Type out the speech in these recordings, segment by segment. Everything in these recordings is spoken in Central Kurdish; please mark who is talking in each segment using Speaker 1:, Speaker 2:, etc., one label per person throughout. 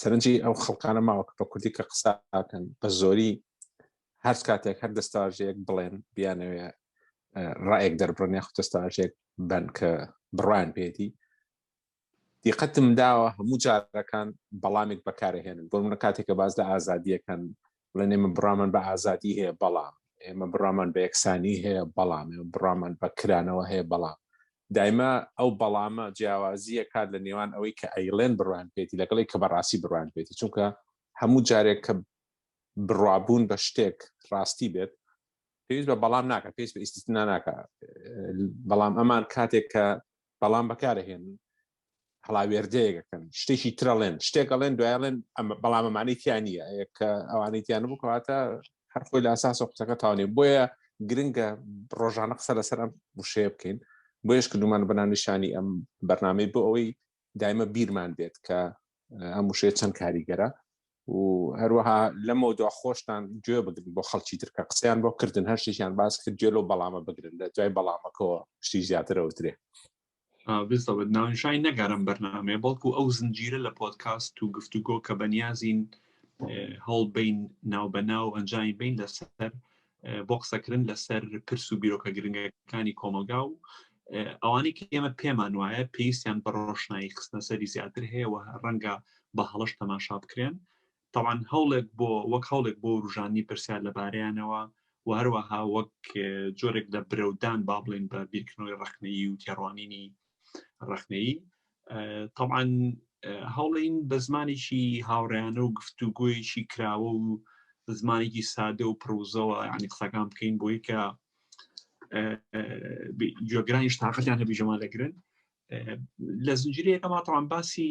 Speaker 1: سەرنجی ئەو خەڵکانە ماوە کە بە کوردی کە قسە ئاکەن بە زۆری هەر کاتێک هەر دەستاژەیەک بڵێن بیانەوێ ڕایەک دەربڕن یاخود دەستاژێک بن کە بڕوان پێدی دیقەتم داوە هەموو جارەکان بەڵامێک بەکارهێنن بۆ منە کاتێکە باز لە ئازادیەکەن بڵێن ئێمە بڕامان بە ئازادی هەیە بەڵام ئێمە بڕامان بە یەکسانی هەیە بەڵام ئێمە بڕامان بە کرانەوە هەیە بەڵام دایمە ئەو بەڵامە جیاوازیە کات لە نێوان ئەوەی کە ئەیلێن بڕوان پێێتی لەگەڵی کە بەڕاستی بڕوان پێێتی چونکە هەموو جارێک کە بڕوابوون بە شتێک ڕاستی بێت پێویست بە بەڵام ناکە پێست بە ئیسنا ناکە بەڵام ئەمان کاتێک کە بەڵام بەکارهێن هەڵاوێردەیەکەکەن شتێکی ترەڵێن شتێک ئەڵێن دوایڵێن بەڵام ئەمانەی تیا نییە کە ئەوانەی تیان بکاتە هەر خۆی لە ئاساس قوتەکە تاوانێ بۆیە گرنگە ڕۆژانە قسە لەسەر ئەم وشەیە بکەین بۆیش کردومان بەناونیشانی ئەم بەرنمەی بۆ ئەوەی دایمە بیرمان بێت کە ئەم وشەیە چەند کاریگەرە و هەروەها لەمەوە دو خۆشتان گوێ بگرن بۆ خەڵکی ترکە قسەیان بۆ کردن هەر شتێکیان باس کرد گوێ لەو بەڵامە بگرن لە دوای بەڵامەکەەوە شتی زیاترەوترێ
Speaker 2: بزەوت ناونشای نەگەرم بەرنامەیە بەڵکو ئەو زنجیرە لە پۆتکاست و گفتوگۆ کە بەنیازین هەڵ بین ناو بە ناو ئەنجامی بین لەسەر بۆ قسەکردن لەسەر پرس و بیرۆکە گرنگەکانی کۆمەلگا و ئەوانی کە ئێمە پێمان وایە پێویستیان بە ڕۆشنایی خستنەسەری زیاتر هەیەەوە ڕەنگە بە هەڵش تەماشا بکرێن تەبعەن هەوڵێک بۆ وەک هەوڵێک بۆ وروژاندنی پرسیار لەبارەیانەوە و هەروەها وەک جۆرێک لە برەودان با بڵێن بە بیرکردنەوەی ڕەخنەیی و تێڕوانینی ڕەخنەیی تەبعاان هەوڵین بە زمانێکی هاوڕیانە و گفتوگویەکی کراوە و زمانێکی سادە و پرۆزەوە ینی قسەکان بکەین بۆی کە گوێگرانیش تااقەتیان هەبی ژەما دەگرن لە زنجیرەکەماتەوان باسی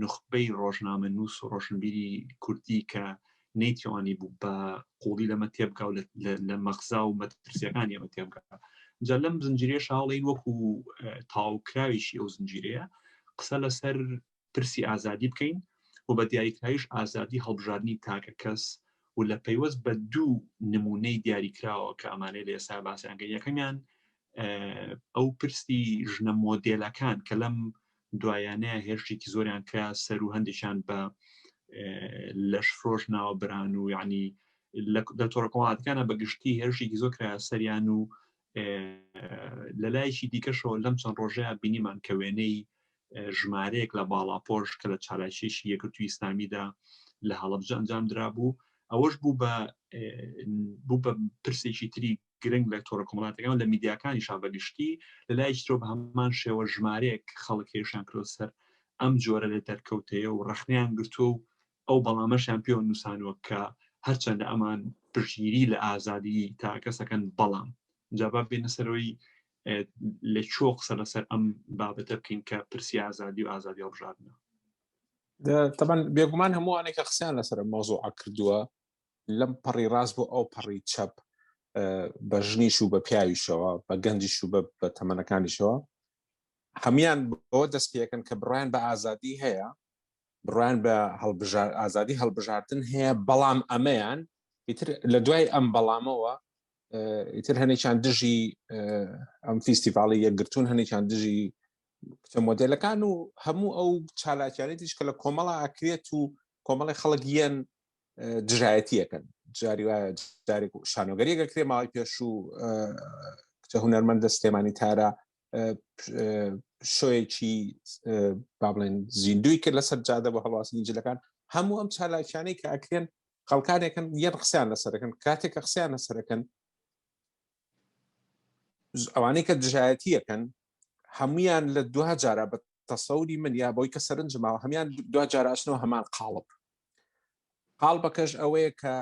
Speaker 2: نوخبەی ڕۆژنامە نووس و ڕۆشنبیری کوردی کە نەیتوانی بوو بە قوڵی لەمە تێبگا و لە مەخزا و مەترسیەکانی ئەمە تێبگا جا لەم زنجیرێ شاڵین وەکو تاوکراویشی ئەو زنجیرەیە قسە لەسەر پرسی ئازادی بکەین و بە دیاریکراویش ئازادی هەڵبژاردننی تاکە کەس و لە پەیوەست بە دوو نمونەی دیاریکراوە کە ئەمانەی لە ئێستا باسیانگە یەکەمیان ئەو پرسی ژنە مۆدێلەکان کە لەم دوایانەیە هێرشێکی زۆریان کرا سەر و هەندێکیان بە لەش فرۆش ناوە بران و یعنی لە تۆڕکۆڵاتەکانە بەگشتی هێرشێکی زۆر کرا سەریان و لە لایەکی دیکەشەوە لەم چەند ڕۆژەیە بینیمان کە وێنەی ژمارەیەک لە باڵاپۆش کە لە چالاکیشی یەکرتوی ئیسلامیدا لە هەڵبجە ئەنجام درابوو ئەوەش بوو بە بوو بە پرسێکی تری گرنگ لە تۆڕە کۆمەڵاتەکان و لە میدیاکانیشا بە گشتی، لە لایەکی ترەوە بە هەمان شێوە ژمارەیەک خەڵک هێرشیان کردووە سەر ئەم جۆرە لە دەرکەوتەیە و ڕەخنەیان گرتووە و ئەو بەڵامەشیان پێوە نووسانوە کە هەرچەندە ئەمان پشتگیری لە ئازادیی تاکەکەس دەکەن، بەڵام. جا با بێینە سەرەوەی لە کوێوە قسە لەسەر ئەم بابەتە بکەین کە پرسی ئازادی و ئازادی هەڵبژاردنە.
Speaker 1: تەبەن بێگومان هەمووانێک کە قسەیان لەسەر مەوزوعە کردووە لەم پەڕی ڕاست بۆ ئەو پەڕی چەپ بە ژنیش و بە پیاویشەوە بە گەنجیش و بە تەمەنەکانیشەوە هەمان بەوە دەست پێەکەن کە بڕیان بە ئازادی هەیە بڕیان بە هەڵبژار ئازادی هەڵبژاردن هەیە بەڵام ئەمەیان ئیتر لە دوای ئەم بەڵامەوە ئیتر هەنێکیان دژی ئەم فیستیڤاڵی یەکگرتون هەنێکیان دژی کچە مۆدلەکان و هەموو ئەو چالاکیانی دیش کە لە کۆمەڵە ئاکرێت و کۆمەڵی خەڵک یەن دژایەتیەکەن جاری جارێک شانۆگەری گەکرێ ماوەی پێشوو کچە هوەرمەندە سلێمانی تارا شوێکی با بڵێن زیندوی کرد لەسەر جادە بە هەڵواستنی جلەکان هەموو ئەم چالاکیانەی کە ئەکرێن خەڵکانێکن یەن قسەیان لەسەرەکەن کاتێک کە قسەیان لەسەرەکەن ئەوانەی کە دژایەتیەکەن هەمویان لە دو جارە بە تەسەوری من یا بۆی کە سەرنج ماوە هەمان دو جاراشنەوە هەمان قاڵب قاڵبەکەش ئەوەیە کە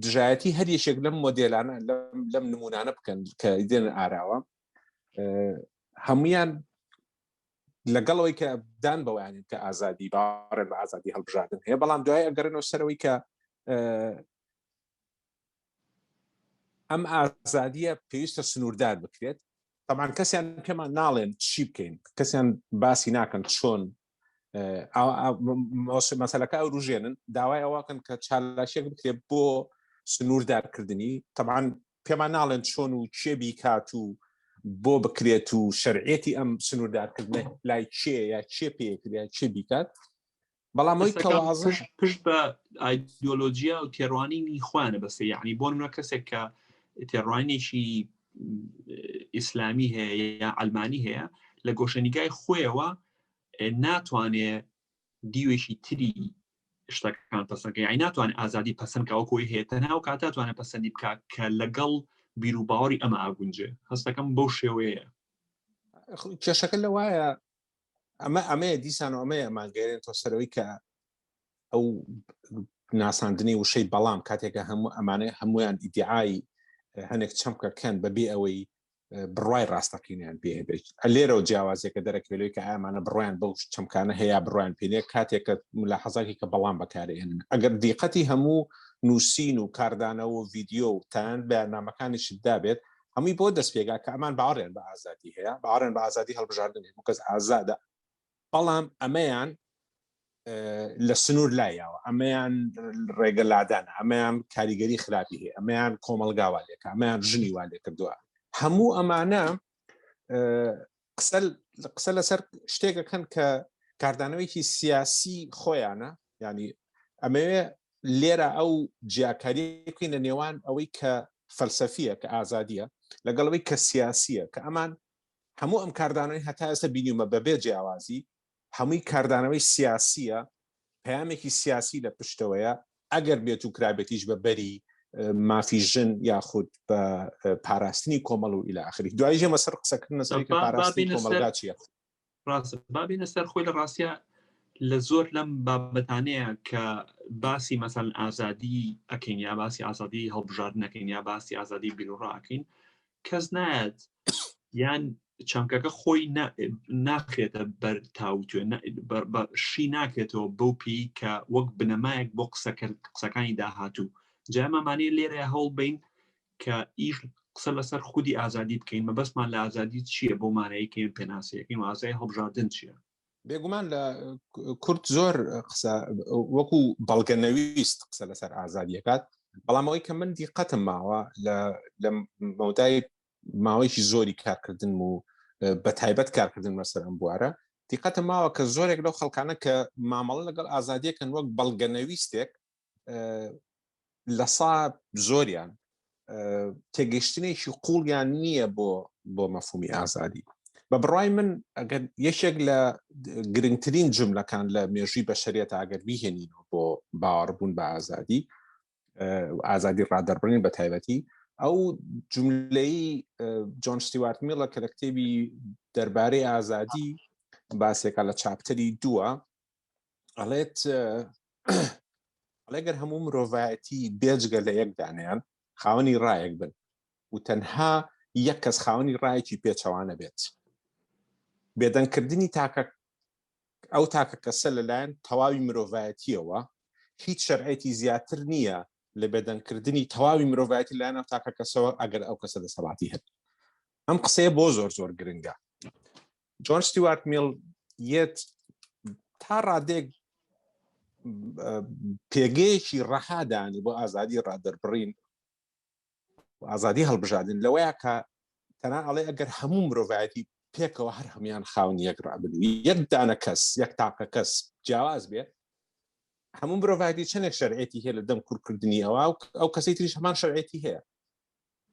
Speaker 1: دژایەتی هەر یەکێک لەم مۆدلانە لەم نمونانە بکەن کە دێن ئاراوە هەمویان لەگەڵەوەی کە دان بەوانێت کە ئازادی باڕێن بە ئازادی هەڵبژاردن هەیە بەڵام دوای ئەگەرنەوە سەرەوەی کە ئەم ئازادیە پێویستە سنووردار بکرێت تەبان کەسیان پێمان ناڵێن چی بکەین کەسیان باسی ناکەن چۆن مەسلەکە ئەو روژێنن داوای ئەوواکەن کە چالاکێک بکرێت بۆ سنووردارکردنی تەبان پێمان ناڵێن چۆن و کێ بیکات و بۆ بکرێت و شەرعەتی ئەم سنووردارکردنە لای کێ یا کێ پێکرێت کێ بیکات بەڵام ئەوی کەسەکان تەوازە پشت پشت بە
Speaker 2: ئایدۆلۆژیا و تێڕوانینی خوانە بەسە یعنی بۆ منە کەسێک کە تێڕوانێکی ئیسلامی هەیە یا ئەلمانی هەیە لە گۆشەنیگای خۆیەوە اه، ناتوانێ دیوێکی تری شتەکان پسەکە یای ناتوان ئازادی پسند کەەوە کۆی هەیە تەنها و کاتاتوانە پسندی بک کە لەگەڵ بیر و باوەڕی ئەمە ئاگونجێ هەستەکەم بەو شێوەیە کێشەکە لە وایە
Speaker 1: ئەمە ئەمەیە دیسان و ئەمەیە ماگەێن تۆ سەرەوەی کە ئەو ناساندنی وشەی بەڵام کاتێکە هەموو ئەمانە هەمویان ئیدعایی هەنێک چەمکەکەن بەبێ ئەوەی بڕای ڕاستەقینیان پێ هەبێت لێرەوە جیاوازێکە دەرەکەلوی کە ئامانە بڕیان بەو چەمکانە هەیە بڕیان پێێ کاتێکە ملا حەزاکی کە بەڵام بەکارێن ئەگەر دیقەتی هەموو نووسین و کاردانەوە ڤیددیو و تان بەیاننامەکانیشدا بێت هەمووی بۆ دەست پێگا کە ئەمان باوەڕیان بە ئازادی هەیە باوەڕیان بە ئازادی هەڵبژاردن هەموو کەس ئازادە بەڵام ئەمەیان لە سنوور لایەوە ئەمەیان ڕێگە لادان ئەمەیان کاریگەری خراپی هەیە ئەمەیان کۆمەلگاوا لێکە ئەمەیان ژنی وا لێ کردووە هەموو ئەمانە قسە قسە لەسەر شتێکەکەن کە کاردانەوەیکی سیاسی خۆیانە ینی ئەمەوێ لێرە ئەو جیاکاری بکەینە نێوان ئەوەی کە فەلسەفیە کە ئازادیە لەگەڵەوەی کە سیاسیە کە ئەمان هەموو ئەم کاردانەوەی هەتا ئێستا بینیمە بەبێ جیاوازی هەمووی کاردانەوەی سیاسیە پەیامێکی سیاسی لە پشتەوەیە ئەگەر بێت و کرابێتیش بە بەری مافی ژن یاخود بە پاراستنی کۆمەڵ و ئیلا ئەخری دوای ژێمە سەر قسەکردن سەر پاراستنی کۆمەلگا چیە ڕاست
Speaker 2: بابینە سەر خۆی لە ڕاستە لە زۆر لەم بابەتانەیە کە باسی مەسەن ئازادی ئەکەین یا باسی ئازادی هەڵبژاردنەکەین یا باسی ئازادی بیرڕاکەین کەس نایەت یان چەمکەکە خۆی ناخێتە بەر تاوتێ شی ناکرێتەوە بەو پێی کە وەک بنەمایەک بۆ قسەکە قسەکانی داهاتوو جامەمانەیە لێرە هەوڵ بین کە ئیش قسە لەسەر خودی ئازادی بکەین مەبەستمان لە ئازادی چییە بۆ مانەیەکەین پێناسەکەین ئازای هەڵبژاردن چییە بێگومان لە
Speaker 1: کورد زۆر قسە وەکو بەڵگە نەویست قسە لەسەر ئازادیەکات بەڵام ئەوەی کە من دیقەتم ماوە لە مەودای ماوەیەکی زۆری کارکردن و بە تایبەت کارکردن مەسەر ئەم بوارە دیقەتە ماوە کە زۆرێک لەو خەڵکانە کە مامەڵە لەگەڵ ئازادیەکەن وەک بەڵگە نەویستێک لە سا زۆریان تێگەشتنێکی قوڵیان نییە بۆ بۆ مەفهومی ئازادی بە بڕای من ئەگەر یەکێک لە گرنگترین جملەکان لە مێژوی بەشریێت ئەگەر بیهێنین بۆ باوەڕبوون بە ئازادی ئازادی ڕادەربڕین بە تایبەتی ئەو جملەی جۆن شتیوارت میڵە کە لە کتێبی دەربارەی ئازادی باسێکە لە چاپتەری دووە ئەڵێت ئەڵێگەر هەموو مرۆڤایەتی بێجگە لە یەک دانیان خاوەنی ڕایەک بن و تەنها یەک کەس خاوەنی ڕایەکی پێچەوانە بێت بێدەنگکردنی تاکە ئەو تاکە کەسە لەلایەن تەواوی مرۆڤایەتیەوە هیچ شەرعێتی زیاتر نییە لە بێدەنگکردنی تەواوی مرۆڤایەتی لایەن ئەو تاکە کەسەوە ئەگەر ئەو کەسە دەسەڵاتی هەن ئەم قسەیە بۆ زۆر زۆر گرنگە جۆن ستیوارت میل یەت تا ڕادێک پێگەیەکی ڕەهادانی بۆ ئازادی ڕادەربڕین ئازادی هەڵبژاردن لەوەیە کە تەنا ئەڵێ ئەگەر هەموو مرۆڤایەتی پێکەوە هەر هەمان خاون یەک ڕابن یەک دانە کەس یەک تاقە کەس جیاواز بێ هەموو مرۆڤایەتی چەندێک شەرعێتی هەیە لە دەم کورکردنی ئەوە ئەو کەسی تریش هەمان شەرعێتی هەیە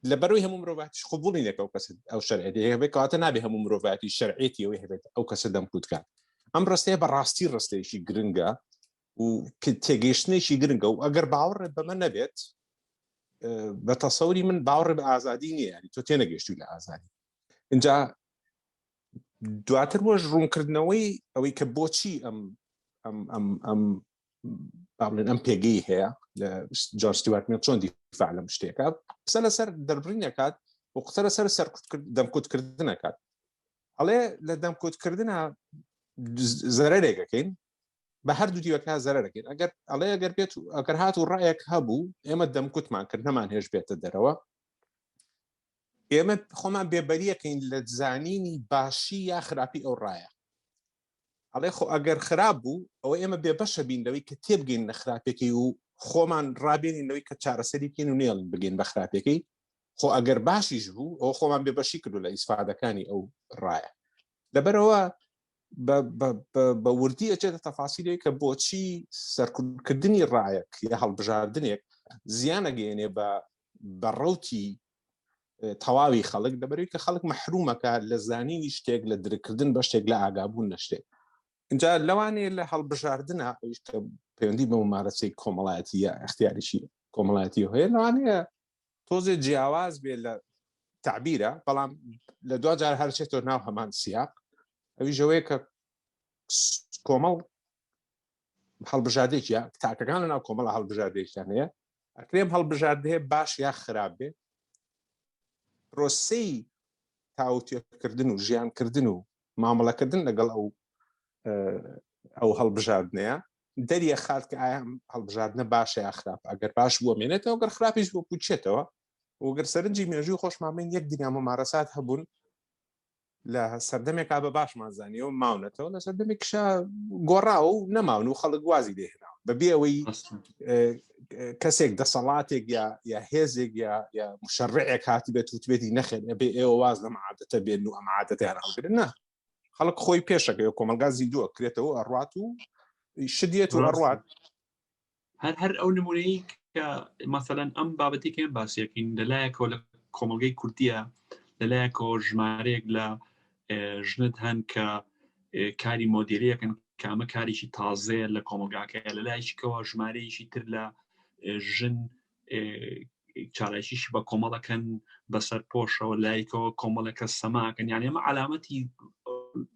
Speaker 1: لە بەروی هەموو مرۆڤاتیش قوبولی نەکە و کەس ئەو شەرعێتی هەبێت کەواتە نابێ هەموو مرۆڤاتی شەرعێتی ئەوەی هەبێت ئەو کەسە دەمکوتکات ئەم ڕستەیە بەڕاستی ڕستێکی گرنگە و تێگەیشتنێکی گرنگە و ئەگەر باوەڕێت بەمە نەبێت بە تەسەوری من باوەڕێ بە ئازادی نیە ینی تۆ تێنەگەشتی لە ئازادی اینجا دواتر وەش ڕوونکردنەوەی ئەوەی کە بۆچی ئەم ئەم ئەم ئەم بابلێن ئەم پێگەی هەیە لە جۆرستیواتمێن چۆن دیفاع لەم شتێکە قسە لەسەر دەربڕینەکات و قسە لەسەر سەر دەمکوتکردنەکات ئەڵێ لە دەمکوتکردە زەرێکەکەین بە هەردوو دیوەکە زەرەکەین ئەگەر ئەڵێ ئەگەر بێت و ئەگەر هات و ڕایەک هەبوو ئێمە دەمکوتمان کرد نەمان هێش بێتە دەرەوە ئێمە خۆمان بێبەریەکەین لە زانینی باشی یا خراپی ئەو ڕایە ئەڵێ خۆ ئەگەر خراپ بوو ئەوە ئێمە بێبەشە بین لەوەی کە تێبگەین لە خراپەکەی و خۆمان ڕابێنین لەوەی کە چارەسەری بکەین و نێڵین بگەین بە خراپەکەی خۆ ئەگەر باشیش بوو ئەو خۆمان بێبەشی کردو لە ئیسفادەکانی ئەو ڕایە لەبەرەوە بە وردی ئەچێتە تەفاسیلێک کە بۆچی سەرکردنی ڕایەک یا هەڵبژاردنێک زیانەگەێنێ بە بە ڕوتی تەواوی خەڵک دەبەری کە خەڵک مەحرومەکە لە زانینی شتێک لە درکردن بە شتێک لە ئاگابوون نە شتێک اینجا لەوانەیە لە هەڵبژاردنە ئەویشکە پەیوەندی بە ممارەسەی کۆمەڵایەتی یا اختیاریشی کۆمەڵایەتی هەیە لەوانەیە تۆزێ جیاواز بێ لە تعبیرە بەڵام لە دو جار هەرچێتەوە ناو هەمان سیاق ئەوی ژەوەیە کە کۆمەڵ هەڵبژاردێکە تاکەکان لە ناو کۆمەڵە هەڵبژاردێکیان هەیە ئەکرێم هەڵبژاردێ باش یا خراپ بێ پرۆسی تاوتێکردن و ژیانکردن و مامەڵەکردن لەگەڵ ئەو ئەو هەڵبژاردنەیە دەریە خات کە ئایا هەڵبژاردنە باشە یا خراپ ئەگەر باش بووە مێنێتەوە گەر خراپیش بۆ پوچێتەوە وگەر سەرنجی مێژووی خۆشمامەین یەک دنیا مەمارەسات هەبوون لە سەردەمێکا بە باشمان زانیەوە ماونەتەوە لە سەردەمێکشا گۆڕاوە و نەماون و خەڵک وازی لێهێناوە بەبێ ئەوەی کەسێک دەسەڵاتێک یا یا هێزێک یا یا مشەڕعێک هاتی بێت وتبێتی نەخێن ئەبێ ئێوە واز لەم عادەتە بێن و ئەم عادەتیان هەڵگرن نا خەڵک خۆی پێشەکەی و کۆمەلگا زیندووە کرێتەوە ئەڕات و شدێت و ئەڕات هەر
Speaker 2: هەر ئەو نمونەی کە مەسەەن ئەم بابەتی کەێن باسیەکەین لەلایەکەوە لە کۆمەلگەی کوردیە لەلایەکەوە ژمارەیەک لە ژنت هەن کە کاری مۆدیریەکەن کامە کارێکی تازەیە لە کۆمەلگاکە لە لایشکەوە ژمارەیەکی تر لە ژن چالاکیشی بە کۆمەڵەکەن بەسەر پۆشەوە لایکەوە کۆمەڵەکە سەماکەن یان ئێمە علامەتی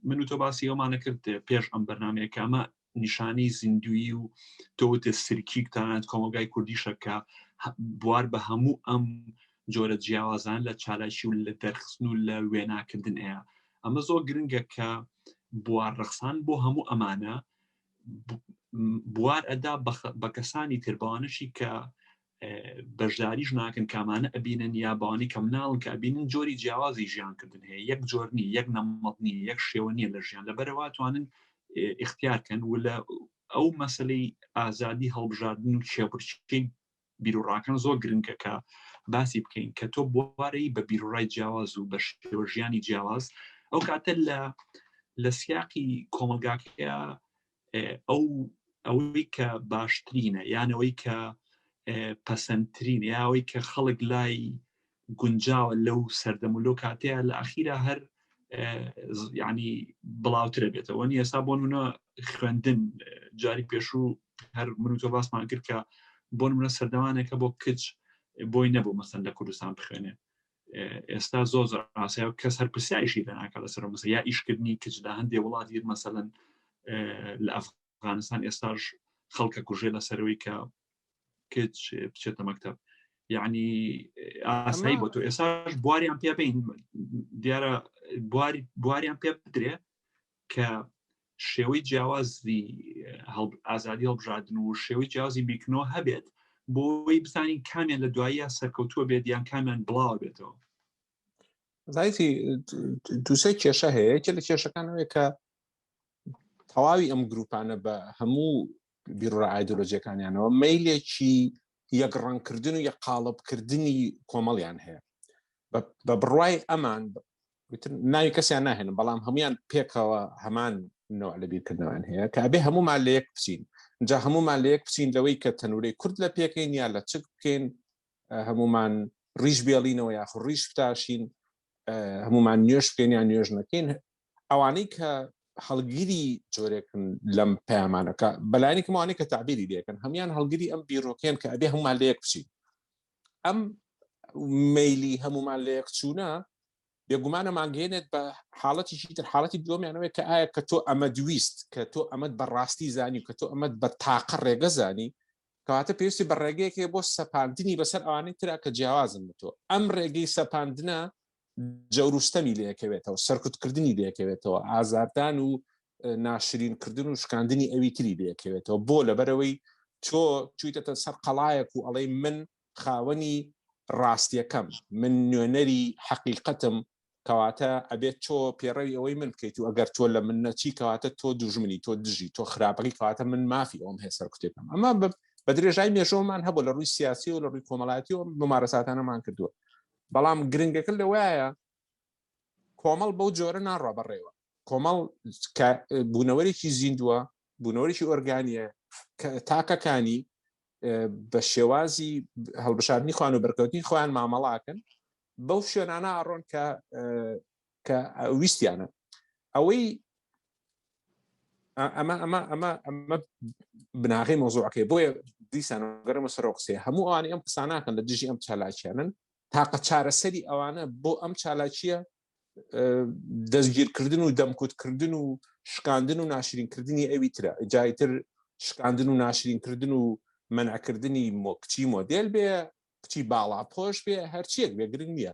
Speaker 2: من و تۆ باسی ئەومانە کرد پێش ئەم بەرنمەیە کامە نیشانەی زیندویی و تۆوتە سرکیک تانات کۆمەلگای کوردیشە کە بوار بە هەموو ئەم جۆرە جیاوازان لە چالاکی و لە دەرخستن و لە وێناکردن ئەیە ئەمە زۆر گرنگە کە بوار ڕەخسان بۆ هەموو ئەمانە بوار ئەدا بە کەسانی تربانشی کە بەشداریش ناکەن کامانە ئەبینن یا بانی کەم ناون کە ئەبینن جۆری جیاوازی ژیان کردن هەیە یەک جۆرنی یەک نەمەڵنی یەک شێوە نیە لە ژیان لەبەرەوە توانن اختیارکەن و لە ئەو مەسلەی ئازادی هەڵبژاردن و چێبرچکەی بیرڕاکان زۆر گرنگە کە باسی بکەین کە تۆ بوارەی بە بیرڕای جیاواز و بە شێوە ژیانی جیاواز ئەو کاتە لە لە سیاقی کۆمەلگاکەیە ئەو ئەوەی کە باشترینە یانەوەی کە پەسەندترین یاوەی کە خەڵک لای گونجاوە لەو سەردەم و لەو کاتەیە لە ئاخیرا هەر ینی بڵاوترە بێتەوە نی ئێستا بۆ منە خوێندن جاری پێشوو هەر من و تۆ باسمان کرد کە بۆن منە سەردەوانێکە بۆ کچ بۆی نەبوو مەسەن لە کوردستان بخوێنێ ئێستا زۆ زۆر ئاسای و کەس هەر پرسیایشی دەناکە لەسەر مەسە یا ئیشکردنی کچدا هەندێ وڵات یر مەسەن لە ئەفغانستان ئێستاش خەڵکە کوژێ لەسەرەوەی کە کچ بچێتە مەکتب یعنی ئاسایی بۆ تۆ ئێساش بواریان پێ بین دیارە بواریان پێ بدرێ کە شێوەی جیاوازی ئازادی هەڵبژاردن و شێوەی جیازی بیکنەوە هەبێت بۆی بزانین کامیان لە دواییە سەرکەوتووە بێت یان کامیان بڵاو بێتەوە
Speaker 1: زایتی دوسێ کێشە هەیە کە لە کێشەکانەوەی کە تەواوی ئەم گروپانە بە هەموو بیرڕە ئایدۆلۆجیەکانیانەوە میلێکی یەک ڕەنکردن و یە قاڵبکردنی کۆمەڵیان هەیە بە بڕای ئەمان وتر ناوی کەسیان ناهێنم بەڵام هەمویان پێکەوە هەمان نوع لە بیرکردنەوەیان هەیە کە ئەبێ هەمومان لە یەک بچین جا هەمومان لە یەک بچین لەوەی کە تەنورەی کورد لە پێکەین یا لە چک بکەین هەمومان ڕیش بێڵینەوە یاخ ڕیش بتاشین هەمومان نوێش بکەین یا نوێژ نەکەین ئەوانەی کە هەڵگیری جۆرێکن لەم پەیامانەکە بەلایەنێکمانێک کە تعبیری لەکەن هەمان هەڵگیری ئەم بیرۆکەن کە ئەبێ هەمومان لە یەک بچین ئەم میلی هەمومان لە یەک چوونە بێگومانە ماگەێنێت بە حاڵەتی تر حاڵەتی دومیانەوەی کە ئایا کە تۆ ئەمە دویست کە تۆ ئەمەد بەڕاستی زانی و کە تۆ ئەمەد بە تاقە ڕێگە زانی کەواتە پێویستی بە ڕێگەیەکێ بۆ سەپاندنی بەسەر ئەوانەی ترا کە جیاوازن بە تۆ ئەم ڕێگەی سەپاندنە جەوروستەمی لەکەوێتەوە سەرکوتکردنی لەکەوێتەوە ئازاردان و ناشرینکردن و شکاندنی ئەوی تری لەکەوێتەوە بۆ لەبەرەوەی تۆ چویتەتە سەر قەڵایەک و ئەڵەی من خاوەنی ڕاستیەکەم من نوێنەری حەقیقەتم کەواتە ئەبێت تۆ پێڕەوی ئەوەی من بکەیت و ئەگەر تۆ لە من نەچی کەواتە تۆ دوژمنی تۆ دژی تۆ خراپەکەی کەواتە من مافی ئەوم هەیە سەرکوتێکم ئەمە بە درێژای مێژۆمان هەبوو لە ڕووی سیاسی و لە ڕووی کۆمەڵاتی و ممارەساتانەمان کردووە بەڵام گرنگەکە لەوایە کۆمەڵ بەو جۆرە ناڕە بەڕێوە کۆمەڵ بوونەوەرێکی زیندووە بوونەوەێکی ئۆرگانیە تاکەکانی بە شێوازی هەڵبشاردنی خوان و بەرکەوتنی خۆیان مامەڵاکەن بەو شوێنانە ئاڕۆن کە کە ویستیانە ئەوەی ئەمە ئەمە ئەمە ئەمە بناغی مۆزوعەکەی بۆیە دیسان گەرمە سەرۆ قسێ هەموو ئەوانی ئەم قسانناکەن لە دژی ئەم چالاکیانن تاقە چارەسەری ئەوانە بۆ ئەم چالاکیە دەستگیرکردن و دەمکوتکردن و شکاندن و ناشرینکردنی ئەوی ترە جایتر شکاندن و ناشرینکردن و منعکردنی مۆکچی مۆدل بێ کچی باڵا پۆش بێ هەرچیەک بێ گرنگ نییە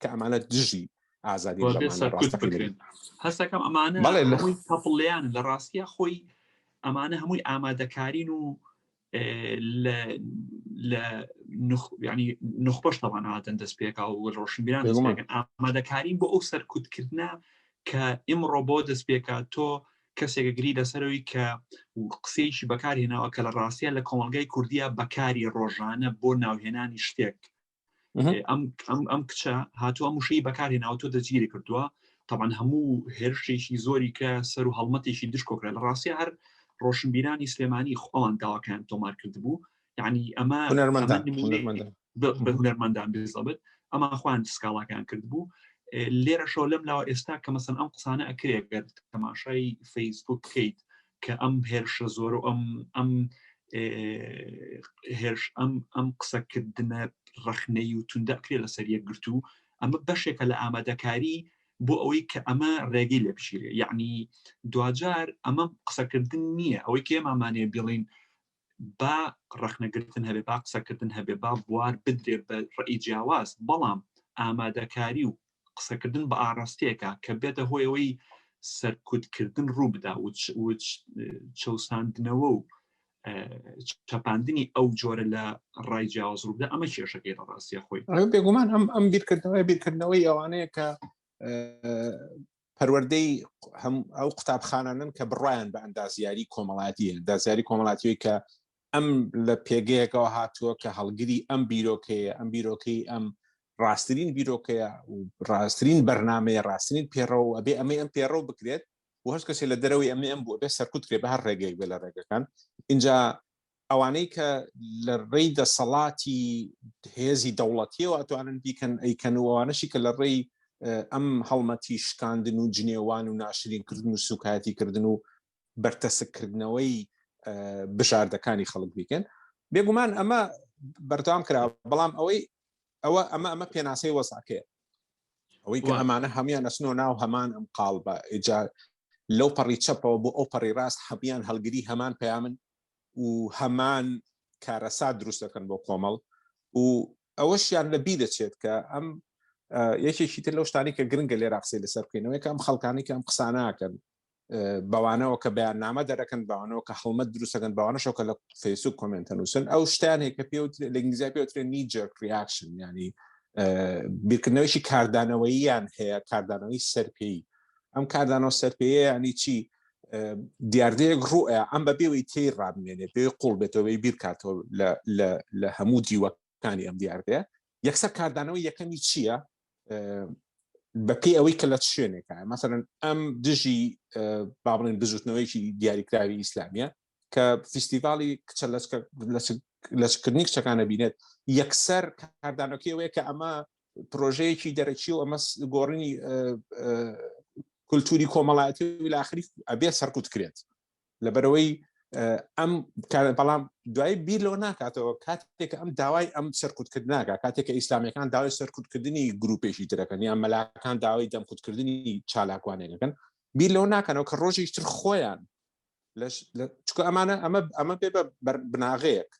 Speaker 1: کە ئەمانە دژی ئازادی
Speaker 2: هەستەکەم ئەمانە تەپڵیان لە ڕاستیا خۆی ئەمانە هەمووی ئامادەکارین و لە ینی نخبەش تەوان هاتن دەست پێکا و ڕۆشنبیران ئامادەکارین بۆ ئەو سەرکوتکردە کە ئمڕۆ بۆ دەست پێکا تۆ کەسێکە گری لەسەرەوەی کە قسەیەکی بەکارهێناوە کە لە ڕاستە لە کۆمەلگای کوردیا بەکاری ڕۆژانە بۆ ناوهێنانی شتێک ئەم ئەم ئەم کچە هاتووە مشەی بەکاری ناوتۆ دەجگیری کردووە تاوان هەموو هێرشێکی زۆری کە سەر و هەڵمەتێکی دشکۆکرێت لە ڕاستە هەر ڕۆشنبیرانی سلێمانی خۆوان داواکان تۆمار کرد بوو یعنی ئەمە بە هونەرمەندان بێزەبێت ئەمە خوان سکاڵاکان کرد بوو لێرە شۆ لەم لاوە ئێستا کە مەسن ئەم قسانە ئەکرێگەر تەماشای فەیسبوک بکەیت کە ئەم هێرشە زۆر و ئەم ئەم هێرش ئەم ئەم قسەکردنە ڕخنەی و توندەکرێ لەسەر یەکگرت و ئەمە بەشێکە لە ئامادەکاری بۆ ئەوەی کە ئەمە ڕێگەی لە بژیرێ یعنی دواجار ئەمە قسەکردن نییە ئەوەی کێمامانێ بڵین با ڕەخنەگرتن هەبێ با قسەکردن هەبێ با بوار بدرێ بە ڕێی جیاواز بەڵام ئامادەکاری و قسەکردن بە ئاڕاستەیەەکە کە بێتە هۆیەوەی سەرکوتکردن ڕوو بدا وچ چەساندنەوە و چەپاندنی ئەو جۆرە لە ڕای جیاواز ڕوودا ئەمە کێشەکەی لە ڕاستە خۆی بێگومان ئەم ئەم
Speaker 1: بیرکردنەوەی بیرکردنەوەی ئەوانەیە کە پەروەردەی هەم ئەو قوتابخانانن کە بڕایان بە ئەندازیاری کۆمەڵاتی ئەندازیاری کۆمەڵاتیەوەی کە ئەم لە پێگەیەکەوە هاتووە کە هەڵگری ئەم بیرۆکەیە ئەم بیرۆکەی ئەم ڕاستترین بیرۆکەیە و ڕاستترین بەرنمەیە ڕاستترین پێڕەوە ئەبێ ئەمەی ئەم پێڕەو بکرێت و هەست کەسێ لە دەرەوەی ئەمە ئەم بوو ئەبێ سەرکوت کرێ بە هەر ڕێگەیەک بێ لە ڕێگەکان اینجا ئەوانەی کە لە ڕێی دەسەڵاتی هێزی دەوڵەتیەوە ئەتوانن بیکەن ئەیکەن و ئەوانەشی کە لە ڕێی ئەم هەڵمەتی شکاندن و جنێوان و ناشرینکردن و سوکایەتی کردن و بەرتەسککردنەوەی بژاردەکانی خەڵک بیکەن بێگومان ئەمە بەردام کرا بەڵام ئەوەی ئەوە ئەمە ئەمە پێناسەی وەساکەیە ئەوەی کە ئەمانە هەموان نەسنۆ ناو هەمان ئەم قاڵ بە ئجا لەو پەڕی چەپەوە بۆ ئەو پەڕی ڕاست حەبیان هەڵگری هەمان پەیامن و هەمان کارەسات دروست دەکەن بۆ کۆمەڵ و ئەوەشیان لە بی دەچێت کە ئەم یەکێکی تر لەو شتانی کە گرنگە لێ راقسی لەسەر بکەینەوەی کە ئەم خەڵکانی کە ئەم قساناکەن بەوانەوە کە بەیاننامە دەرەکەن بەوانەوە کە هەڵمەت دروستەکەن بەوانەشەوە کە لە فەیسوک کۆمنتە نووسن ئەو شتانێک کە پێ لە ئنگلیزیا پێوترێن نیجر ریاکشن ینی بیرکردنەوەیشی کاردانەوەییان هەیە کاردانەوەی سەرپێی ئەم کاردانەوە سەرپێیە یعنی چی دیاردەیەک ڕوئە ئەم بە بێوی تێی ڕابمێنێت پێ قوڵ بێتەوەی بیرکاتەوە لە هەموو دیوەکانی ئەم دیاردەیە یەکسەر کاردانەوە یەکەمی چییە بەپی ئەوەی کە لە شوێنێکە مەسەرن ئەم دژی بابڵێن بزوتنەوەیکی دیاریکراوی ئیسلامیە کە فیستیڤاڵی کچە لەچکردنی کچەکانە بینێت یەکسەر کاردانەکەی وەیە کە ئەمە پرۆژەیەکی دەرەکی و ئەمە گۆڕینی کولتوری کۆمەڵایەتی ولاخری ئەبێ سەرکوت کرێت لەبەرەوەی ئەم بەڵام دوای بیر لەوە ناکاتەوە کاتێک ئەم داوای ئەم سەرکوتکرد ناکە کاتێکە ئیسلامیەکان داوای سەرکوتکردنی گروپێکی ترەکەن یان مەلاکان داوای دەمکوتکردنی چالاکوانێکەکەن بیر لەوە ناکەنەوە کە ڕۆژێکتر خۆیان چکە ئەمانە ئەمە ئەمە بێ بە بناغەیەک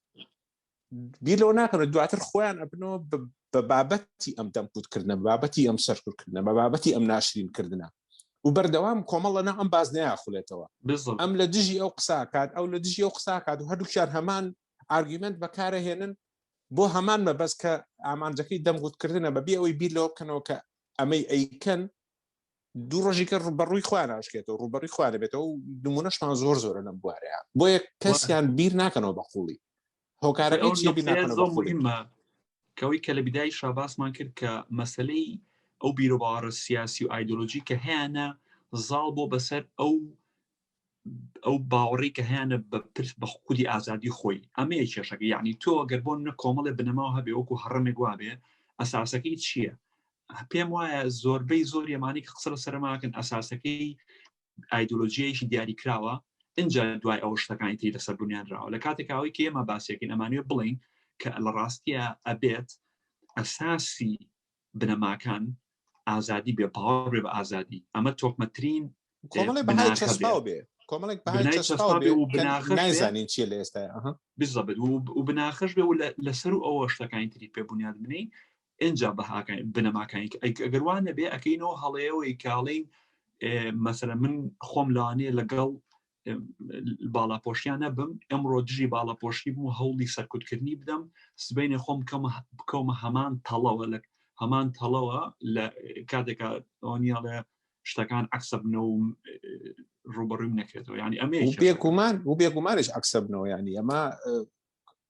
Speaker 1: بیر لەوە ناکەن دواتر خۆیان ئەبنەوە بە بابەتی ئەم دەمکوتکردنە بابەتی ئەم سەرکردکردنە بە بابەتی ئەم ناشرینکردە و بەردەوام کۆمەڵ لەنا ئەم باز نایخولێتەوە ئەم لە دژی ئەو قساکات ئەو لە دژی ئەو قساکات و هەردووکیان هەمان ئارگیمنت بەکارە هێنن بۆ هەمان مەبەست کە ئامانجەکەی دەمگوتکردنە بەبی ئەوەی بیر لەوە بکەنەوە کە ئەمەی ئەیکەن دوو ڕۆژیکە ڕوبەڕووی خوا ناشکێتەوە ڕوبەڕی خوا دەبێتەوە و نمونەشمان زۆر زۆرە لەم بوارەیە بۆیە کەسیان بیر ناکەنەوە بە قوڵی هۆکارەکە چی بیر ناکەنەوە بە قوڵی کەوەی
Speaker 2: کە لە بدای شاباسمان کرد کە مەسلەی ئەو بیرۆباڕە سیاسی و ئایدۆلۆژی کە هەیەە زاڵ بۆ بەسەر ئەو ئەو باوەڕی کە هەیەە بە پرس بە خودی ئازادی خۆی ئەمەیە کێشەکە یعنی تۆ گەر بۆ نە کۆمەڵێ بنەماوە هەبێ وەکو هەڕمێک وابێ ئەساسەکەی چییە؟ پێم وایە زۆربەی زۆر یەمانی کە قسە سەرماکەن ئەساسەکەی ئایدۆلۆژیەکی دیاری کراوە اینجا دوای ئەو شتەکانی تری لەسەر بنیانراوە لە کاتێکاوەی کە ئێمە باسێکین ئەمانوێ بڵین کە لە ڕاستیە ئەبێت ئەساسی بنەماکان ئازادی بێ باوەڕ بێ بە ئازادی ئەمە تۆکمەترین
Speaker 1: نایزانین چیە لە ئێستا بزەبێت
Speaker 2: و بناخش بێ و لەسەر و ئەوە شتەکانی تری پێ بنیاد بنین ئەجا بەهاکان بنەماکانی ئەگەروانە بێ ئەەکەینەوە هەڵەیەوەی کاڵین مەسەر من خۆم لانێ لەگەڵ باڵاپۆشیان نەبم ئەمڕۆ دژی باڵاپۆشی بوو هەوڵی سەرکوتکردنی بدەم سبینێ خۆم بکەمە هەمان تەڵەوە لە هەمان تەڵەوە لە کاتێکا ئەوەنیاڵێ شتەکان عکسە بنەوە ڕوبڕویم نەکرێتەوە ینی ئەمێ بێگومان و
Speaker 1: بێگومانش عکسە بنەوە ینی ئەمە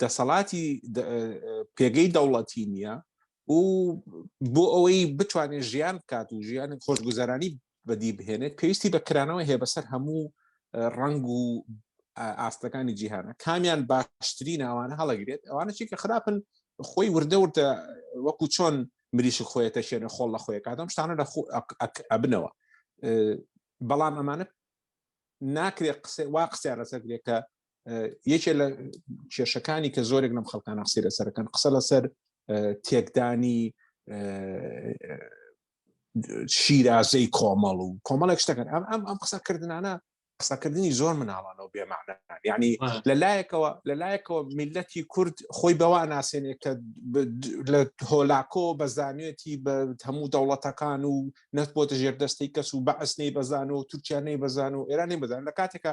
Speaker 1: دەسەڵاتی پێگەی دەوڵەتی نییە و بۆ ئەوەی بتوانێت ژیان بکات و ژیان خۆشگوزەرانی بەدی بهێنێت پێویستی بە کرانەوە هەیە بەسەر هەموو ڕنگ و ئاستەکانی جیهانە کامیان باشتری ناوانە هەڵەگرێت ئەوانە چی کە خراپن خۆی وردە وردە وەکو چۆن مریشک خۆیەتە شوێنە خۆڵ لە خۆی کاتم شتانە لە ئەبنەوە بەڵام ئەمانە ناکرێت قسە وا قسەیان لەسەر کرێت کە یەکێ لە کێشەکانی کە زۆرێک لەم خەڵکان قسەی لەسەرەکەن قسە لەسەر تێکدانی شیرازەی کۆمەڵ و کۆمەڵێک شتەکەن ئەم ئەم ئەم قسەکردانە قسەکردنی زۆر مناڵانەوە بێمانە ینی لە لایەکەوە لە لایەکەوە میلەتی کورد خۆی بەوا ناسێنێ کە لە هۆلاکۆ بەزانێتی بە هەموو دەوڵەتەکان و نەت بۆتە ژێر دەستی کەس و بەعسنەی بەزان و تورکیانەی بەزان و ئێرانی بەزان لە کاتێکە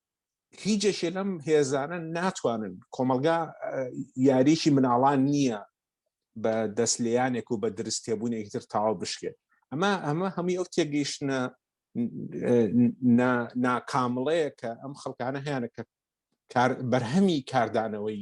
Speaker 1: هیچێکێ لەم هێزانە ناتوانن کۆمەلگا یاریکی مناڵان نییە بە دەست لیانێک و بە درستێبوونێکی تر تاوا بشکێت ئەمە ئەمە هەمووی ئەو تێگەیشتە ناکامڵەیە کە ئەم خەڵکانە هیانە کە بەرهەمی کاردانەوەی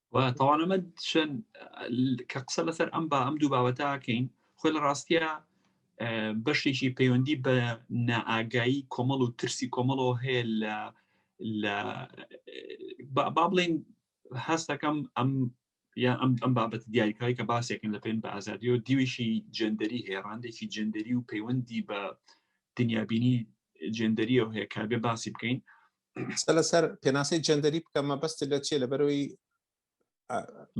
Speaker 1: تاوانەمە
Speaker 2: شن کە قسە لەسەر ئەم با ئەم دوو بابەتاکەین خۆی لە ڕاستە بەشێکی پەیوەندی بە نائگایی کۆمەڵ و ترسی کۆمەڵەوە هەیە لە لە با بڵین هەستەکەم ئەم یان ئەم ئەم بابەت دیاریکراوی کە باسێکن لە پێن بە ئازادی و دیویشی جندەری هێڕاندێکی جندەری و پەیوەندی بە دنیابینی جندەریەوە هەیە کابێ باسی بکەین
Speaker 1: قسە لەسەر
Speaker 2: پێناسەی
Speaker 1: جەندەری بکەم مەبەست لە چیە لە بەرەوەی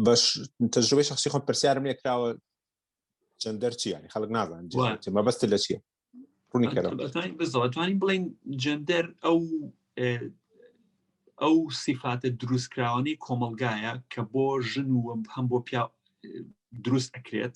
Speaker 1: بەش تەجروبەی شخصی خۆم پرسیارم لێکراوە جەندەر چی ینی خەڵک نازان مەبەست لە چیە ڕوونی بزڵەتوانین بڵین
Speaker 2: جەندەر ئەو ئەو سیفاتە دروستکراوانی کۆمەلگایە کە بۆ ژن و هەم بۆ پیا دروست ئەکرێت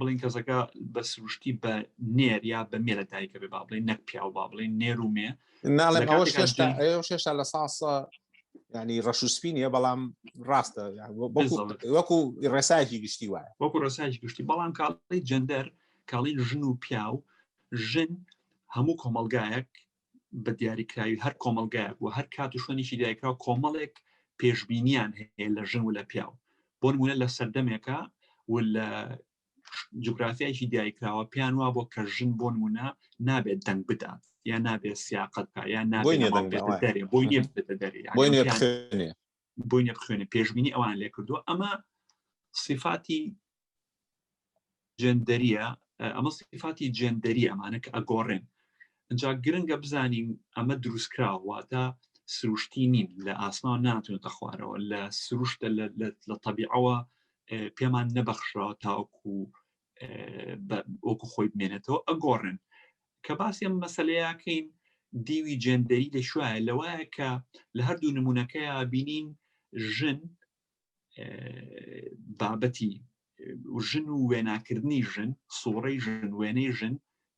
Speaker 2: بڵین کەسەکە بە سروشتی بە نێر یا بە مێرە دایکە بێ با بڵێ نەک پیاو با بڵێ نێر و مێ
Speaker 1: شێشتا لە ساسە ینی ڕەش و سپینە بەڵام ڕاستە وەکو ڕێسایکی گشتی وایە وەکو ڕێسایکی گشتی
Speaker 2: بەڵام کاڵی جەندەر کاڵین ژن و پیاو ژن هەموو کۆمەلگایەک بە دیاریکراوی هەر کۆمەلگایەک و هەر کات و شوێنێکی دیاریکراو کۆمەڵێک پێشببینیان هەیە لە ژن و لە پیاو بۆ نمونە لە سەردەمێکە و لە جوگرافیایکی دیاریکراوە پێیان وا بۆ کە ژن بۆ نمونە نابێت دەنگ بدات یا نابێت سیاقت کا یا نابێت دەرێ بۆی نێ دەرێ بۆی نەبخوێنێ پێشبینی ئەوان لێ کردووە ئەمە سیفاتی جندەریە ئەمە سیفاتی جندەری ئەمانە کە ئەگۆڕێن ئەجا گرنگە بزانین ئەمە دروستکراوەواتە سروشتی نین لە ئاسمان ناتونێتە خوارەوە لە سروشتە لە تەبیعەوە پێمان نەبەخشەوە تاوەکو وەکو خۆی بمێنێتەوە ئەگۆڕن کە باسی ئەم مەسلەیەکەین دیوی جێندەری لە شوایە لەوایە کە لە هەردوو نمونونەکەی بینین ژن بابەتی ژن و وێناکردنی ژن سوڕی ژن وێنەی ژن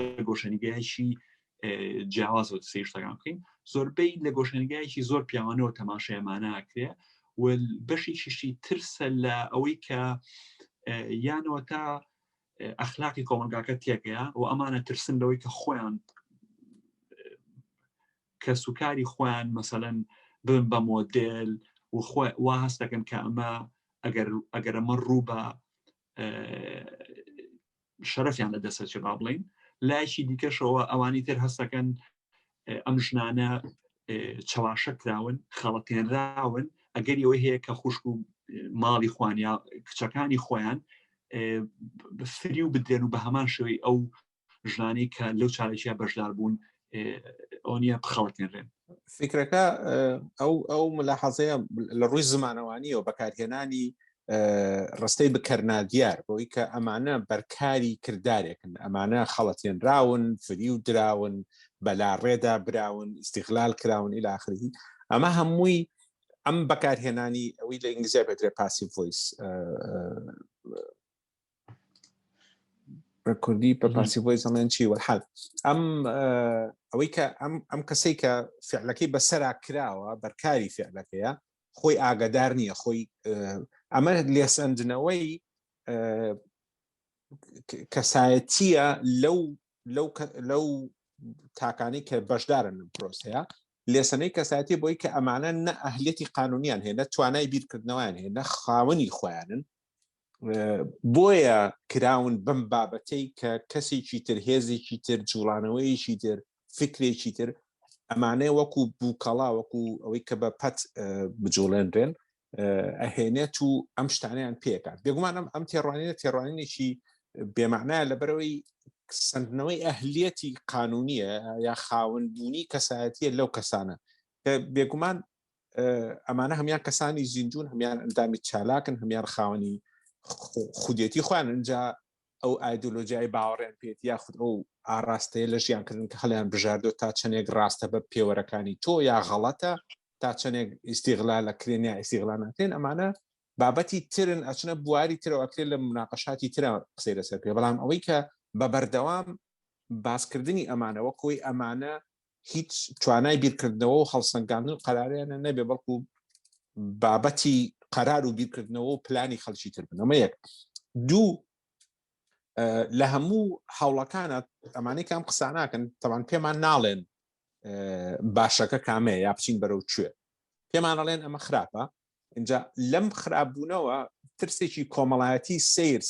Speaker 2: لە گۆشەنیگایکی جیاوازەوە سێ شتەکان بکەین زۆربەی لە گۆشەنگایکی زۆر پیاوانەوە تەماشایمانناکرێ و بەشی شیشتی ترسە لە ئەوەی کە یانەوە تا ئەخلاقی کۆمەلگاکە تێکەیە و ئەمانە ترسن لەوەی کە خۆیان کە سوکاری خۆیان مەسەەن بن بە مۆدل و خۆ وا هەستەکەن کە ئەمە ئەگەر ئەگەر ئەمە ڕوو بە شەرەفیان لە دەسەچ با بڵین لایشی دیکەشەوە ئەوانی تر هەستەکەن ئەم ژنانە چەواشە کراون خەڵەتێنراون ئەگەر ئەوەی هەیە کە خوشک و ماڵی خوانیا کچەکانی خۆیان فری و بدرێن و بە هەمان شوی ئەو ژنانی کە لەو چارەکییا بەشدار بوون ئۆنیە بخەڵتێنرێن فکرەکە
Speaker 1: ئەو ئەو ملاحەزەیە لە ڕووی زمانەوانیەوە بەکارهێنانی ڕستەی بکەرنادیار بۆی کە ئەمانە بەرکاری کردارێکن ئەمانە خەڵەتێنراون فری و دراون بەلا ڕێدا براون ئیسیغلال کراون ئیلاخری ئەمە هەمووی ئەم بەکارهێنانی ئەوی لە ئینگلیزیا بەدرێ پاسی ڤۆیس بە کوردی بە پارسی بۆی زەڵێن چی وەحال ئەم ئەوەی کە ئەم ئەم کەسەی کە فعلەکەی بەسەرا کراوە بەرکاری فعلەکەیە خۆی ئاگادار نییە خۆی ئەمە لێسەندنەوەی کەسایەتیە لەو لەو لەو تاکانی کە بەشدارن لەم پرۆسەیە لێسەنەی کەسایەتی بۆی کە ئەمانە نە ئەهلێتی قانونیان هەیە نە توانای بیرکردنەوەیان هەیە نە خاوەنی خۆیانن بۆیە کراون بەم بابەتەی کە کەسێکی تر هێزێکی تر جوڵانەوەیەکی تر فکرێکی تر ئەمانەیە وەکو بووکەڵا وەکو ئەوەی کە بە پەت بجوڵێنرێن ئەهێنێت و ئەم شتانیان پێکات بێگومانم ئەم تێڕوانینە تێڕوانینێکی بێمانایە لەبەرەوەی سندنەوەی ئەهلیەتی قانونیە یا خاونبوونی کەسایەتە لەو کەسانە بێگومان ئەمانە هەمان کەسانی زیندون هەمان ئەندامی چالاکن هەمان خاوەنی خودێتی خۆیان ئەجا ئەو ئایدۆلۆژیای باوەڕێن پێێت یاخود ئەو ئاراستەیە لە ژیانکردن کە هەڵیان بژاردۆ تا چەندێک ڕاستە بە پێوەرەکانی تۆ یا غەڵەتە تا چەندێک ئیسیغلا لە کرێن یا ئیسیغلا ناکرێن ئەمانە بابەتی ترن ئەچنە بواری ترەوەکرێت لە مناقەشاتی ترە قسەی لەسەر پێ بەڵام ئەوەی کە بە بەردەوام باسکردنی ئەمانەوە کۆی ئەمانە هیچ توانای بیرکردنەوە و هەڵسەنگاندن قەراریانە نەبێ بەڵکو بابەتی قەرار و بیرکردنەوە و پلانی خەلکی تر بنەمە یەک دوو لە هەموو هەوڵەکانە ئەمانەی کام قساناکەن تەوان پێمان ناڵێن باشەکە کامەیە یا بچین بەرەو کوێ پێمانەڵێن ئەمە خراپە اینجا لەم خراپبوونەوە ترسێکی کۆمەڵایەتی سیر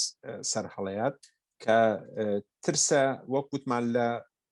Speaker 1: سەرهەڵەیات کە ترسە وەکووتمان لە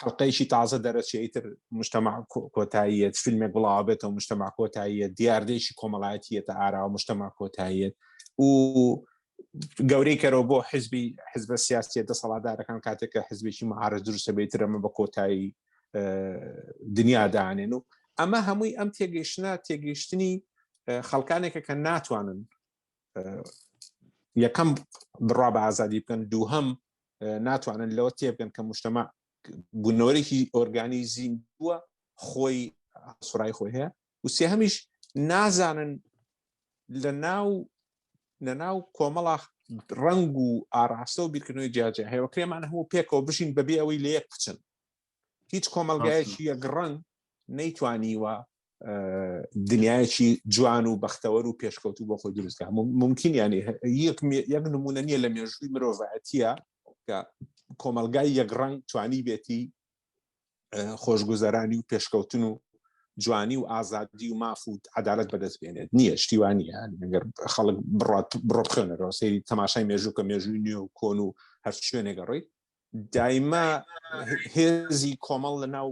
Speaker 1: حلقەیەکی تازە دەرەچی تر مشتمە کۆتاییەت فیلمێک بڵاوبێتەوە مشتمە کۆتاییە دیاردێکی کۆمەڵایەتیەتە ئاراوە مشتمە کۆتاییەت و گەورەی کەرەوە بۆ حزبی حزبە سیاسیە دەسەڵاتدارەکان کاتێکە حزبێکی مەعاارە دروستە بێت ئەمە بە کۆتایی دنیا دانێن و ئەمە هەمووی ئەم تێگەیشتە تێگەیشتنی خەڵکانێکە کە ناتوانن یەکەم بڕا بە ئازادی بکەن دووهم ناتوانن لەوە تێبگەن کە مشتەما بوونەوەرێکی ئۆرگانی زیین بووە خۆی سرای خۆی هەیە و سێ هەمیش نازانن لە ناو لە ناو کۆمەڵە ڕنگ و ئاراستە و بیرکردنەوەی جیاجیا هەیە کرێمان هەموو پێکەوە بژین بەبێ ئەوەی لە یەک بچن هیچ کۆمەلگایەکی یەک ڕەنگ نەیتوانیوە دنیایەکی جوان و بەختەوەر و پێشکەوتو بۆ خۆی دروستکە ممکن یانی یەک نمونە نیە لە مێژووی مرۆڤەتیە کە کۆمەلگای یەک ڕەنگ توانی بێتی خۆشگوزەرانی و پێشکەوتن و جوانی و ئازادی و ماف و عدالت بەدەست بێنێت نییە شتیوانە گەر خەڵک بڕات بڕۆ بخێنەرەوە سری تەماشای مێژوو کە مێژووی نوێ و کۆن و هەر شوێنێگەڕی دایمە هێزی کۆمەڵ لە ناو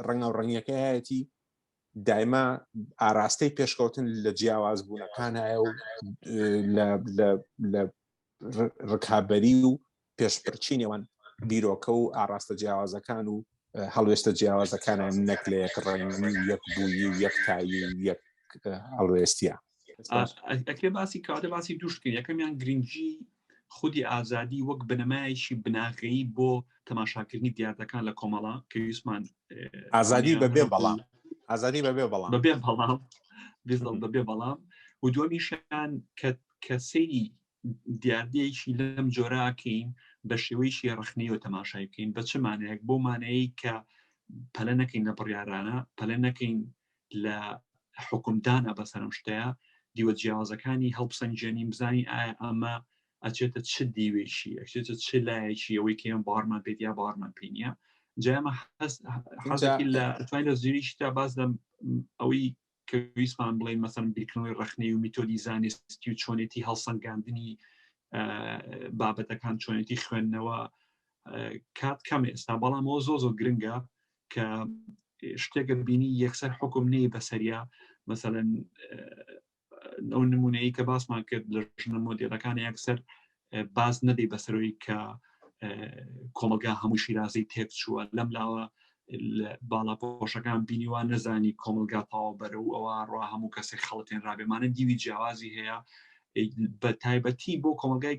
Speaker 1: ڕەنگاو ڕەنگەکەیەتی دایمە ئاراستەی پێشکەوتن لە جیاواز بوونەکانایە و لە ڕکابی و پێشپرچی نێوان بیرۆکە و ئاراستە جیاوازەکان و هەڵوێستە جیاوازەکانیان نەک لە یەک ڕێنگی و یەک بووی و یەکتایی و یەک هەڵوێستە
Speaker 2: ئەکرێ باسی کاتە باسی دوشتکە یەکەمیان گرنگی خودی ئازادی وەک بنەمایەکی بناغەیی بۆ تەماشاکردنی دیاردەکان لە کۆمەڵە کە یوسمان ئازادی
Speaker 1: بەبێ بەڵام ئازادی بەبێ بەڵام بەبێ بەڵام بەبێ
Speaker 2: بەڵام و دومیشان کە کە سەیری دیاردەیەکی لەم جۆراکەین بە شێوەیەکی ڕخنەوە تەماشای بکەین بە چ مانەیەک بۆ مانەیە کە پەلە نەکەین لە بڕیارانە پەلە نەکەین لە حکومدانە بەسەرم شتەیە دیوە جیاوازەکانی هەڵپسەنجێنین بزانین ئایا ئەمە ئەچێتە چ دیوێکی ئەچێتە چ لایەکی ئەوەی کەم بارمان پێت یا بارمان پێینە جامە حەزەکی لە توانین لە زیریشتا باز لەم ئەوەی کە ویستمان بڵێن مەسەن بیرکردنەوەی ڕخنەی و میتۆدی زانستی و چۆنێتی هەڵسەنگاندنی بابەتەکان چۆنێتی خوێندنەوە کات کەم ئێستا بەڵامەوە زۆ زۆ گرنگە کە شتێکە بینی یەکسەر حکم نەی بەسەریا مەسەەن ئەو نمونەیە کە باسمان کرد لە ژنە مۆدیلەکان یەکسەر باز نەبی بەسەرۆی کە کۆمەلگا هەموو شیرازەی تێک چووە لەم لاوە باڵا پۆشەکان بینیوان نەزانی کۆمەلگا پاوە بەرە و ئەوە ڕوا هەموو کەسێک خەڵتێن ڕابێمانە دیوی جیاوازی هەیە بە تایبەتی بۆ کۆمەلگای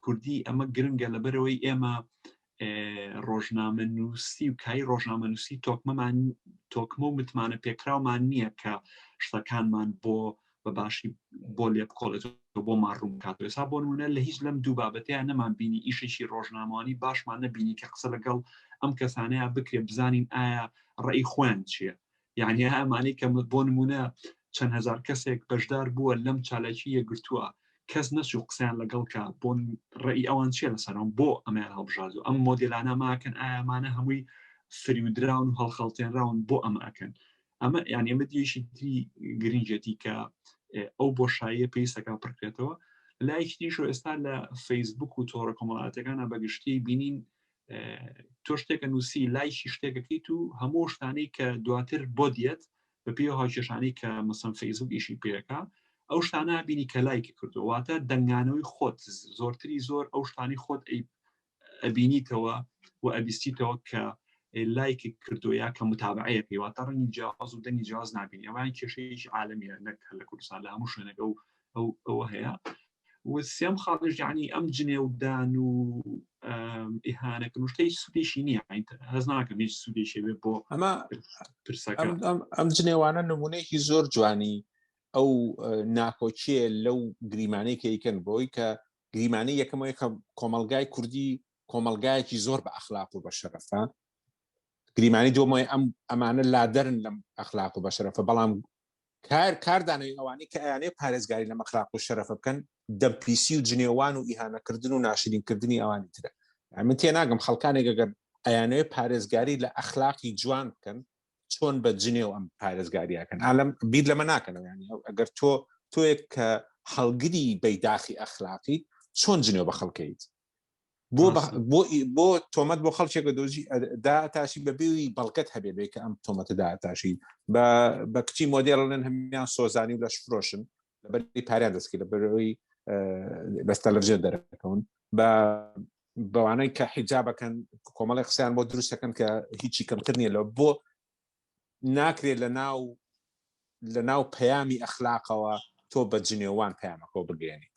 Speaker 2: کوردی ئەمە گرنگە لەبەرەوەی ئێمە ڕۆژنامە نووسی و کای ڕۆژنامە نووسی تۆکمەمان تۆکمە و متمانە پێکراومان نییە کە شتەکانمان بۆ بە باشی بۆ لێ بکۆڵێت بۆ ماڕوم کات ێسا بۆ نمونە لە هیچ لەم دوو بابەتیان نەمان بینی ئیشێکی ڕۆژنامەوانی باشمان نەبینی کە قسە لەگەڵ ئەم کەسانەیە بکرێ بزانین ئایا ڕێی خۆیان چییە یعنی ئەمانەی کە بۆ نمونە چەند هزار کەسێک بەشدار بووە لەم چالاکی یەگرتووە کەس نەچوو قسەیان لەگەڵ کا بۆن ڕێی ئەوان چیە لەسەرم بۆ ئەمیان هەڵبژاردو ئەم مۆدلانە ماکەن ئامانە هەمووی فریودراون و هەڵخەڵتێنراون بۆ ئەمە ئەکەن ئەمە یان ئێمە دیشی تری گرنگێتی کە ئەو بۆ شایە پێیسەکە پڕکرێتەوە لایشتیش ئێستا لە فەیسبوک و تۆڕە کۆمەڵاتەکانە بەگشتی بینین تۆ شتێکە نووسی لایشی شتێکەکەیت و هەموو شتانەی کە دواتر بۆ دیێت بە پێ هاوکێشانەی کە مەسم فەیسبوک ئیشی پێەکە ئەو شتانە بینی کە لایکی کردوواتە دەنگانەوەی خۆت زۆرتری زۆر ئەو شتانی خۆت ئەبینیتەوە و ئەبیستیتەوە کە لایکی کردو یا کە متابعەیە پێیواتە ڕنگی جیاواز و دەنگی جیاز نبینی ئەوان کێشەیەکی عاالمیە نەک لە کوردستان لە هەموو شوێنەکە و ئەو ئەوە هەیە سێم خاڵش یعنی ئەم جنێودان و ئیهانەکە شتەی سودێکی نییە هەز ناکەم هیچ سودێکی بێ
Speaker 1: بۆ
Speaker 2: ئەمە پرسەکە ئەم جنێوانە
Speaker 1: نمونەیەکی زۆر جوانی ئەو ناکۆکیە لەو گریمانەی کەیکەن بۆی کە گریمانی یەکەمەوەی کە کۆمەلگای کوردی کۆمەلگایەکی زۆر بە ئەخلاق و بە شەرەفە گریمانی دۆمای ئەم ئەمانە لادەرن لەم ئەخلاق و بە شەرەفە بەڵام کار کاردانەوەی ئەوانەی کە ئەیانەیە پارێزگاری لە مەخراق و شەرەفە بکەن دەمپیسی و جنێوان و ئیهانەکردن و ناشرینکردنی ئەوانی ترە من تێ ناگەم خەڵکانێک گەگەر ئەیانەیە پارێزگاری لە ئەخلاقی جوان بکەن چۆن بە جنێو ئەم پارێزگاریەکەن ئالم بیر لەمە ناکەنەوە ینی ئەگەر تۆ تۆیەک کە هەڵگری بەیداخی ئەخلاقیت چۆن جنێو بە خەڵکەیت بۆ بۆ تۆمەت بۆ خەڵکێکە دۆزی دا تاشی بە بێوی بەڵگەت هەبێ بێ کە ئەم تۆمەتەدا تاشی بە کچی مۆدێڵن هەمیان سۆزانی و لە شفرۆشن لە بەری پاریان دەستکی لە بەرەوەی بەستە لەژێ دەرەکەون بە بەوانەی کە حیجا بەکەن کۆمەڵی قسەیان بۆ دروستەکەن کە هیچی کەمتر نیە لە بۆ ناکرێت لە ناو لە ناو پەیامی ئەخلاقەوە تۆ بە جنێوان پەیامەکەەوە بگەێنیت